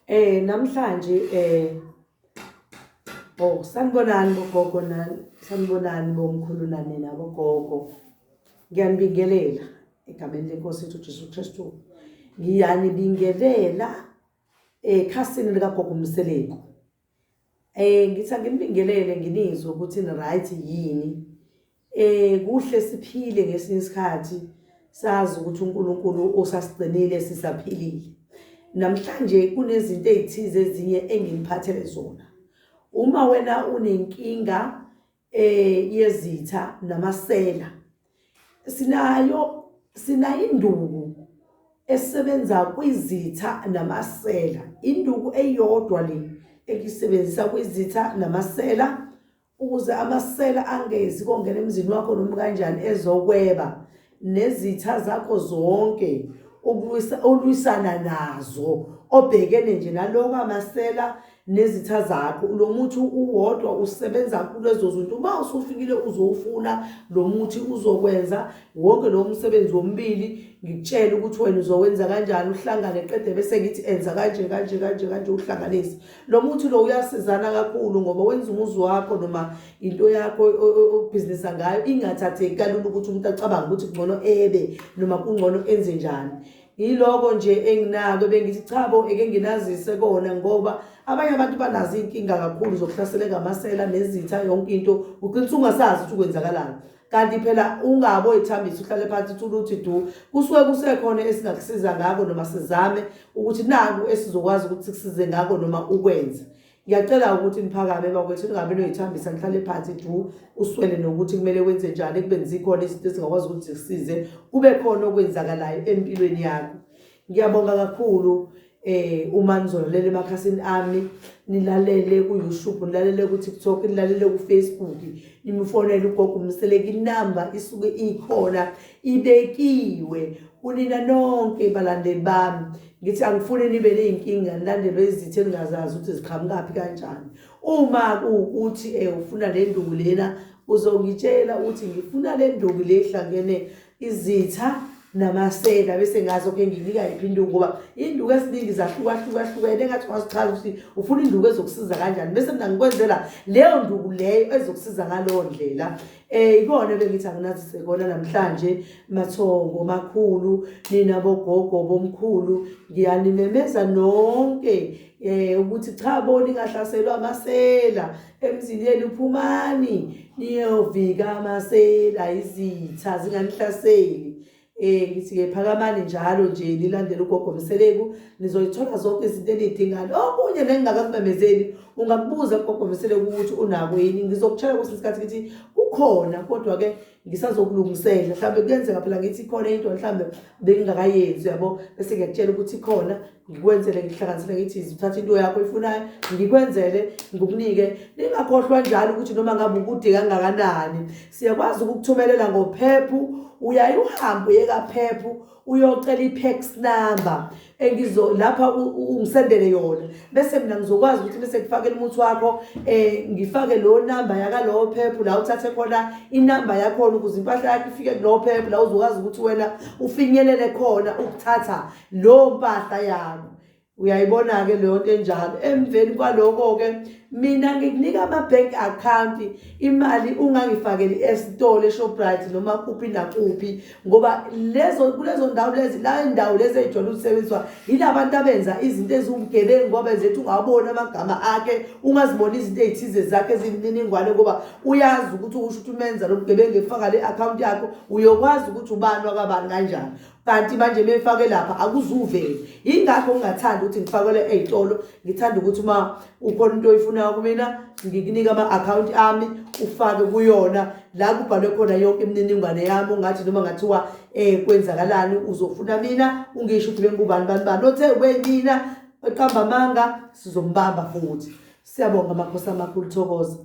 Eh namhlanje eh Oh sanibonani bogogo nani sanibonani bomkhulu nani nabo gogo ngiyanibingelela egameni lenkosi yethu Jesu Kristu ngiyanibingelela ekhasini likagogo Mseleku Eh ngithi angibingelele nginizwe ukuthi ni right yini. Eh kuhle siphile ngesinye isikhathi sazi ukuthi uNkulunkulu usasigcinile sisaphilile. Namhlanje kunezinto ezithize ezinye enginiphathele zona. Uma wena unenkinga eh yezitha namasela sinayo sinayo induku esebenza kwizitha namasela induku eyodwa le ekisebenzisa kwizitha namasela ukuze amasela angezi kongena emzini wakho noma kanjani ezokweba nezitha zakho zonke olwisana nazo obhekene nje naloko amasela nezitha zakho lo muthi uwodwa usebenza kulezo zinto uma usufikile uzowufuna lo muthi uzokwenza wonke lo msebenzi womibili ngikutshele ukuthi wena uzowenza kanjani uhlangane qede bese ngithi enza kanje kanje kanje kanje uhlanganise lo muthi lo uyasizana kakhulu ngoba wenza umuzi wakho noma into yakho obhizinisa ngayo ingathatheki kalula ukuthi umuntu acabange ukuthi kungcono ebe noma kungcono enze njani yiloko nje enginako bengithi cha bo eke nginazise kona ngoba abanye abantu banazo iy'nkinga kakhulu zokuhlaseleka amasela nezitha yonke into ugcina usungasazi ukuthi kwenzakalani kanti phela ungabe oyithambisa uhlale phansi uthula uthi du kusuke kusekhona esingakusiza ngako noma sizame ukuthi naku esizokwazi ukuthi sikusize ngako noma ukwenze ngiyacela ukuthi niphakame bakwethu ningabe noyithambisa nihlale phansi du uswele nokuthi kumele wenze njani ekubeni zikhona izinto ezingakwazi ukuthi zikusize kube khona okwenzakalayo empilweni yakho ngiyabonga kakhulu eh uma nizolalela emakhasini ami nilalele ku YouTube nilalele ku TikTok nilalele ku Facebook nimfonele ugogo umseleki inamba isuke ikhona ibekiwe kunina nonke balandeli bami ngithi angifuni nibe nezinkinga nilandele izithe ningazazi ukuthi ziqhamukaphi kanjani uma ukuthi eh ufuna le nduku lena uzongitshela ukuthi ngifuna le nduku lehlangene izitha namasela bese ngazi okay nginika yiphi induku ngoba induku esiningi zahlukahlukahlukene engathi ungazichaza ukuthi ufuna induku ezokusiza kanjani bese mina ngikwenzela leyo nduku leyo ezokusiza ngaleyo ndlela um ikona bengithi anginazise kona namhlanje mathongo makhulu nina bogogo bomkhulu ngiyanimemeza nonke um ukuthi cha bo ningahlaselwa amasela emzini yenu phumani niyovika amasela izitha zinganihlaseli eh ngithi-ke phakamani njalo nje nilandele ugogo mseleku nizoyithola zonke izinto eniyidingayo okunye nengingakakumemezeli ungakubuza kugogo mseleku ukuthi unako yini ngizokutshela kwesinye isikhathi ukuthi kukhona kodwa-ke ngisazokulungisela mhlawumbe kuyenzeka phela ngithi ikhona into mhlawumbe bengingakayenzi yabo bese ngiyakutshela ukuthi ikhona ngikwenzele ngihlanganisele ngithi zithatha into yakho ifunayo ngikwenzele ngikunike ningakhohlwa njalo ukuthi noma ngabe ukude kangakanani siyakwazi ukukuthumelela ngophephu uyaye uhambe uye kaphephu uyocela i-pax number engizo lapha ungisendele yona bese mina ngizokwazi ukuthi bese ngifakele umuthi wakho eh ngifake lo number yaka lo phephu la uthathe khona inamba yakho ukuze impahla yakho ifike kulo phephu la uzokwazi ukuthi wena ufinyelele khona ukuthatha lo mpahla yakho Uyayibona-ke leyo nto enjalo. Emveni kwaloko-ke mina ngikunika ama-bank account imali ungangifakeli esitolo eShoprite noma kuphi nakuphi ngoba lezo kulezo ndawo lezi la indawo lezi ey'jwayele ukusebenziswa yila bantu abenza izinto eziwubugebengu ngoba benza ethi ungawaboni amagama akhe ungaziboni izinto ey'thize zakhe eziyimininingwane ngoba uyazi ukuthi ukusho ukuthi umenza lo bugebengu efaka le akhawunti yakho uyokwazi ukuthi ubani wakabani kanjani kanti manje mefake lapha akuzuveli ingakho ngingathanda ukuthi ngifakele ezitolo ngithanda ukuthi uma ukhona into oyifunayo kumina ngikunika ama-akhawunti ami ufake kuyona la kubhalwe khona yonke imininingwane yami ungathi noma ngathiwa um kwenzakalani uzofuna mina ungisho ukuthi bengubani bani bani othe ubeyimina eqamba amanga sizombamba futhi siyabonga amakhosi amakhulu thokoza